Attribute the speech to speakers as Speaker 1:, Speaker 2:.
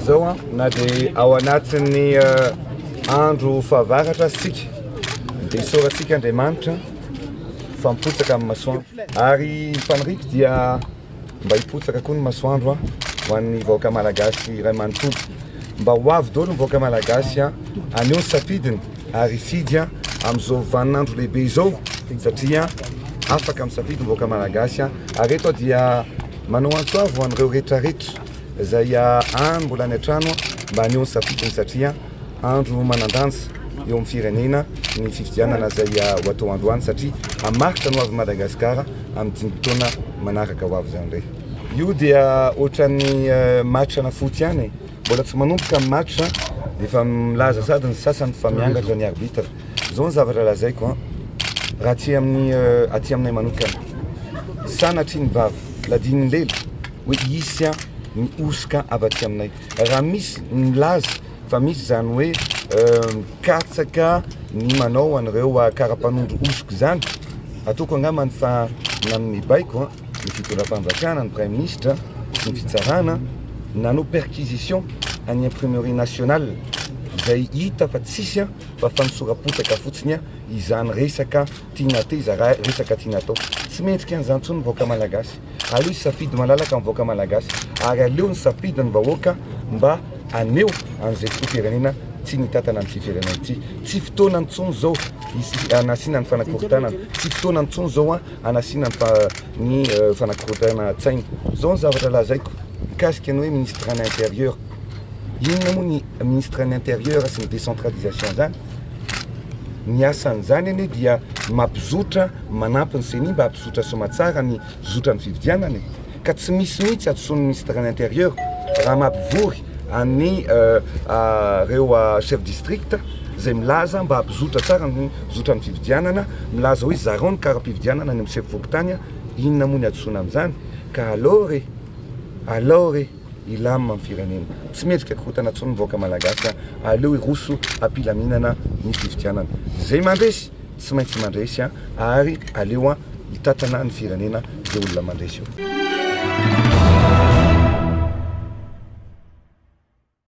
Speaker 1: Zao na dia ao anatin'ny eh, andro fahavaratra aza tsika dia isaorantsika Andriamanitra fa mipotsaka amin'ny masoandro ary ny faniriako dia mba hipotsaka koa ny masoandro a ho an'ny vahoaka malagasy iray manontolo mba ho avy daholo ny vahoaka malagasy a aneo ny safidiny ary hifidy a amin'izao vaninandro lehibe izao satria afaka misafidy ny vahoaka malagasy a ary eto aho dia manao antso avo ho an'ireo rehetra rehetra izay a any mbola any an-trano a mba aneo ny safidiny satria Andro manan-danja eo amin'ny firenena ny fifidianana izay ho atao androany satria hamaritra ny ho avin'i Madagasikara amin'ny dimy taona manaraka ho avy izany indray. Io dia ohatran'ny match ana foot ihany e. Mbola tsy manomboka ny match dia efa milaza sady ny sasany fa miangatra ny arbitre. Izao ny zavatra lazaiko an, raha aty amin'ny aty aminay manokana, sanatria ny vava ladin'ny lela hoe hisy ny hosoka avy aty aminay. raha misy nilaza fa misy izany hoe mikatsaka ny manao an'ireo kara-panondro hosoka izany, ataoko angambany fa ny amin'ny baiko ny fitondram-panjakana, ny praiminisitra sy ny fitsarana nanao perquisition any imprimerie nationale izay hita fa tsisy fa fanosora-potaka fotsiny izany resaka Tiana atao iza raha resaka tiana atao. Tsy mendrika an'izany intsony ny vahoaka malagasy. Aleo hisafidy malalaka ny vahoaka malagasy ary aleo nisafidy ny vahoaka mba haneho an'izay filoham-pirenena tiany hitantana an'ity firenena ity. Tsy fotoana intsony izao hanasiana ny fanakorontanana, tsy fotoana intsony izao hanasiana ny fanakorontanan-tsaina. Izao ny zavatra lazaiko mikasika ny hoe ministran'ny intérieur, inona moa ny ministran'ny intérieur sy ny décentralisation izany? Ny asan'izany anie dia mampizotra, manampy ny ceni mba hampizotra soamatsara ny zotran'ny fividianana e! Ka tsy misy mihitsy hadisoan'ny Ministra ny Intérieur raha mampivory an'i reo chef district izay milaza mba hampizotra tsara ny zotran'ny fividianana, milaza hoe zarao ny kara-pividianana any amin'ny sefo fokontany a! Inona moa ny hadisoana amin'izany? Ka alors e! Alors e! Hilamina ny firenena. Tsy mendrika korontana intsony ny vahoaka malagasy fa aleo hiroso hampilaminana ny fifidianana. Izay mandresy tsy maintsy mandresy ary aleo hitatrana ny firenena izay olona mandresy eo.